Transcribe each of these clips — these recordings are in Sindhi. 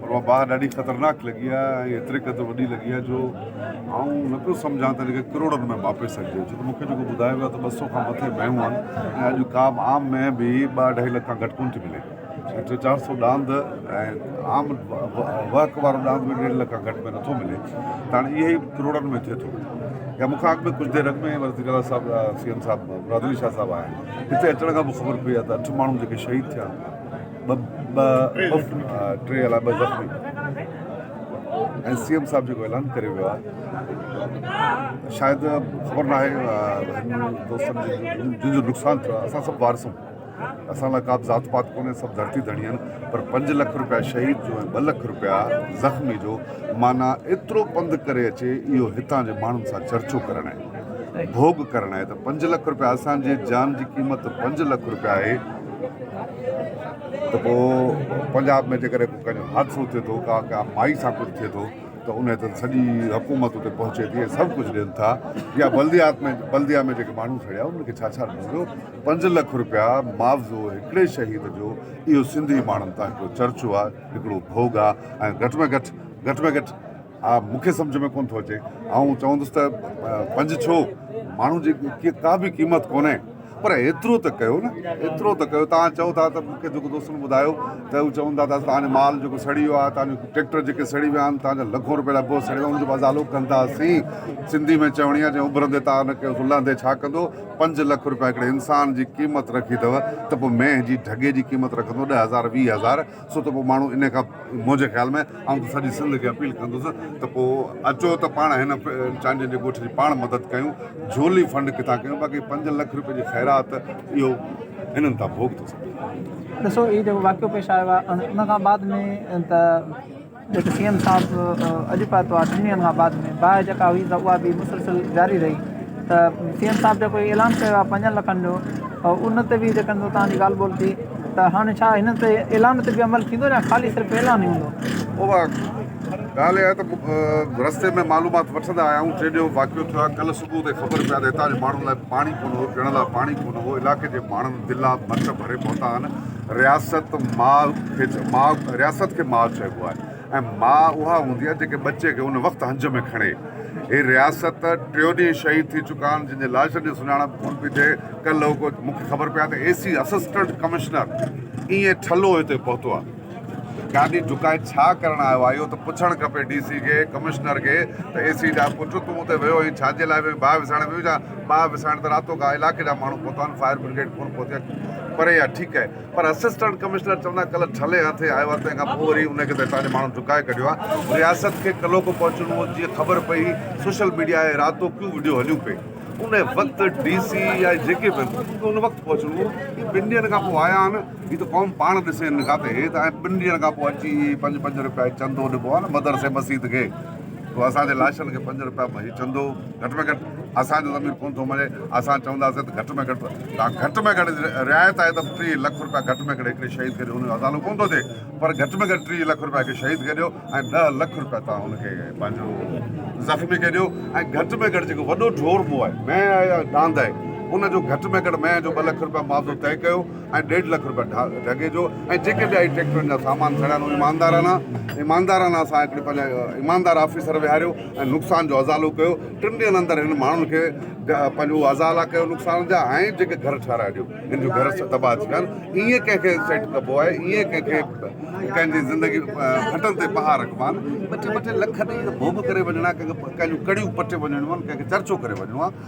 پر اها باهه ڏاڍي خطرناڪ لڳي آهي ۽ ايتري قدر وڏي لڳي آهي جو آئون نه پيو سمجهان ته ان کي ڪروڙن ۾ ماپي سگهجي ڇو ته مون کي جيڪو ٻڌايو ويو آهي ته ٻه سؤ کان مٿي مينهون آهن ۽ اڄ ڪا به عام مينهن به ٻه اڍائي لک کان گهٽ ڪونه ٿي ملي ۽ ٽي چار سؤ ڏاند ۽ عام وهڪ وارو ڏاند به ڏيڍ لک کان گهٽ ۾ نٿو ملي ته هاڻي اهي ئي ڪروڙن ۾ ٿئي ٿو يا مون کان اڳ ۾ ڪجهه دير اڳ ۾ وزير اعليٰ صاحب سي ايم صاحب برادري شاهه صاحب آيا آهن هتي اچڻ کان پوء خبر پئي آهي ته اٺ ماڻهو جيڪي شهيد ٿيا ٻه مفت ۽ ٽي الاء ٻه زخمي ۽ سي ايم صاحب جيڪو اعلان ڪريو ويو آهي شايد خبر ناهي هن دوستن جي جن جو نقصان ٿيو آهي اسان سڀ وارث آهيون اسان لاء ڪا به ذات پات ڪونهي سڀ ڌرتي ڌڻي آهن پر پنج لک روپيا شهيد جو ۽ ٻه لک روپيا زخمي جو معنيٰ ايترو پنڌ ڪري اچي اهو هتان جي ماڻهن سان چرچو ڪرڻ آهي ڀوڳ ڪرڻ آهي ته پنج لک روپيا اسان جي جان جي قيمت پنج لک روپيا آهي ته پوء پنجاب ۾ جيڪڏهن ڪو ڪنهن جو حادثو ٿئي ٿو ڪا ڪا مائي سان ڪجهه ٿئي ٿو ته ان تي سڄي حڪومت اتي پهچي ٿي ۽ سڀ ڪجهه ڏين ٿا يا بلديات ۾ بلديا ۾ جيڪي ماڻهو سڙيا انهن کي ڇا ڇا ڏنو ويو پنج لک روپيا معاوضو هڪڙي شهيد جو اهو سنڌي ماڻهن تان هڪڙو چرچو آهي هڪڙو ڀوڳ آهي ۽ گهٽ ۾ گهٽ گهٽ ۾ گهٽ ها مون کي سمجهه ۾ ڪونه ٿو اچي آئون چوندس ته پنج ڇو ماڻهو جي ڪا به قيمت ڪونهي پر ايترو ته ڪيو نه ايترو ته ڪيو تان چئو ٿا ته مون کي جيڪو دوستن ٻڌايو ته هو چون ٿا ته تان مال جيڪو سڙي ويو آهي تان ٽريڪٽر جيڪي سڙي ويا آهن تان لکون روپيا ڏبو سڙي ويو ان جو ازالو ڪنداسين سنڌي ۾ چوڻي آهي جي اڀرندي تان نه ڪيو لهندي ڇا ڪندو پنج لک روپيا هڪڙي انسان جي قيمت رکي اٿو ته پوء مينهن جي ڍڳي جي قيمت رکندو ڏهه هزار ويهه هزار سو ته پوء ماڻهو انهيء کان منهنجي خيال ۾ آئون ته سڄي سنڌ کي اپيل ڪندس ته پوء اچو ته پاڻ هن چانڊين جي ڳوٺ جي پاڻ مدد ڪيون، جهولي فنڊ ڪٿان ڪيون باقي پنج لک روپين جي خيرات اهو هنن تان ڀوڳ ٿو سگهي. ڏسو هي جيڪو واقعو پيش آيو آهي ان کان بعد ۾ ته. جيڪي سي ايم صاحب اڄ به اتوار ٽن ڏينهن کان بعد ۾ باهه جيڪا هئي سا اها به مسلسل جاري رهي ته سي ايم صاحب جيڪو اعلان ڪيو آهي پنجن لکن جو ان تي به جيڪا توهان جي ڳالهه ٻولهه ٿي ته هاڻي ڇا هن تي اعلان تي به عمل ٿيندو يا خالي صرف اعلان ئي هوندو اها ڳالهه اها ته رستي ۾ معلومات وٺندا آيا آهيون ٽي ڏينهن واقعو ٿيو آهي ڪلهه صبح تي خبر پيا ته هتان جي ماڻهن لاء پاڻي ڪونه هو پيئڻ لاء پاڻي ڪونه هو علائقي جي ماڻهن دلا ڀت ڀري پهتا آهن رياست ماء رياست کي ماء چئبو آهي ۽ ماء اها هوندي آهي جيڪي ٻچي کي ان وقت هنج ۾ کڻي. هي رياست ٽيو ڏينهن شهيد ٿي چڪا آهن جن جي لاشن جي سڃاڻپ ڪونه پئي ٿئي ڪلهه اڳو مون کي خبر پئي آهي ته اي سي اسسٽنٽ ڪمشنر ائين ٺلهو هتي پهتو آهي. گاڏي جهڪائي ڇا ڪرڻ آيو آهي اهو ته پڇڻ کپي ڊي سي کي ڪمشنر کي ته اي سي جا پٽ تون اتي ويو هئين ڇا جي لاء ويو هئين باهه وسائڻ ويو هئين ڇا؟ باهه وسائڻ ته راتو ڪا علائقي جا ماڻهو پهتا آهن فائر برگيڊ ڪونه پهتي آهي. پري آهي ٺيڪ آهي پر اسسٽنٽ ڪمشنر چوندا ڪلهه ٺلهي هٿ آيو آهي تنهن کانپوء وري ان کي ته اسان جي ماڻهن ڊڪائي ڪڍيو آهي رياست کي ڪلهوڪو پهچڻو هو جيئن خبر پئي سوشل ميڊيا ۽ راتو ڪيون وڊيو هليون پئي ان وقت ڊي سي يا جيڪي به هن کي ان وقت پهچڻو هو هي ٻن ڏينهن کان پوء آيا آهن هي ته قوم پاڻ ڏسي هن کان ته هي ته ٻن ڏينهن کان پوء اچي پنج پنج رپيا چندو ڏبو آهي نه مدرسي مسيت کي تو اسان جي لاشن کي پنج روپيا ڀئي چندو گهٽ ۾ گهٽ اسان جو ضمير ڪون ٿو مڃي اسان چونداسين ته گهٽ ۾ گهٽ توهان گهٽ ۾ گهٽ رعايت آهي ته ٽيهه لک روپيا گهٽ ۾ گهٽ هڪڙي شهيد کي ڏيو ان جو ازالو ڪون ٿو ٿئي پر گهٽ ۾ گهٽ ٽيهه لک روپيا هڪ شهيد کي ڏيو ۽ ڏهه لک روپيا توهان هن کي پنهنجو زخمي کي ڏيو ۽ گهٽ ۾ گهٽ جيڪو وڏو ڍور مون آهي مينهن آهي يا ڏاند آهي ان جو گهٽ ۾ گهٽ مينهن جو ٻه لک روپيا معاوضو طئي ڪيو ۽ ڏيڍ لک رپيا ڍڳي جو ۽ جيڪي ٻيا هي ٽريڪٽرن جا سامان سڙيا آهن ايماندارانه ايماندارانه اسان هڪڙي پنهنجا ايماندار آفيسر ويهاريو ۽ نقصان جو ازالو ڪيو ٽن ڏينهن اندر هن ماڻهن کي پنهنجو اهو ازالا ڪيو نقصان جا ۽ جيڪي گهر ٺهرائي ڏيو هن جو گهر تباهه ٿي ويا آهن ائين ڪنهن کي سيٽ ڪبو آهي ائين ڪنهن کي ڪنهن جي زندگي کٽن تي پها رکبا آهن ٻه ٽي ٻه ٽي لک ڏيئي ڀوڳ ڪري وڃڻا ڪنهن کي ڪنهن جون ڪڙيون پٽي وڃڻيون آهن ڪنهن کي چرچو ڪري وڃڻو آهي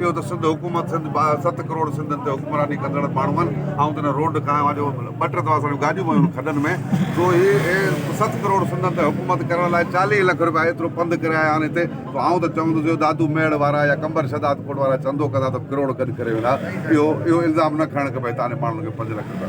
اهو ته سنڌ حڪومت سنڌ ست ڪروڙ سنڌين تي حڪمراني ڪندڙ ماڻهن آئون تنهن روڊ کان آهيان جو ٻه ٽي دفعا اسان جون گاڏيون ويون آهن کڏن ۾ سو هي ست ڪروڙ سنڌين تي حڪومت ڪرڻ لاء چاليهه لک رپيا ايترو پنڌ ڪري آيا آهن هتي سو آئون ته چوندس اهو دادو ميڙ وارا يا قمبر شهداد ڪوٽ وارا چندو ڪندا ته ڪروڙ گڏ ڪري ويندا اهو اهو الزام نه کڻڻ کپي هتان جي ماڻهن کي پنج لک رپيا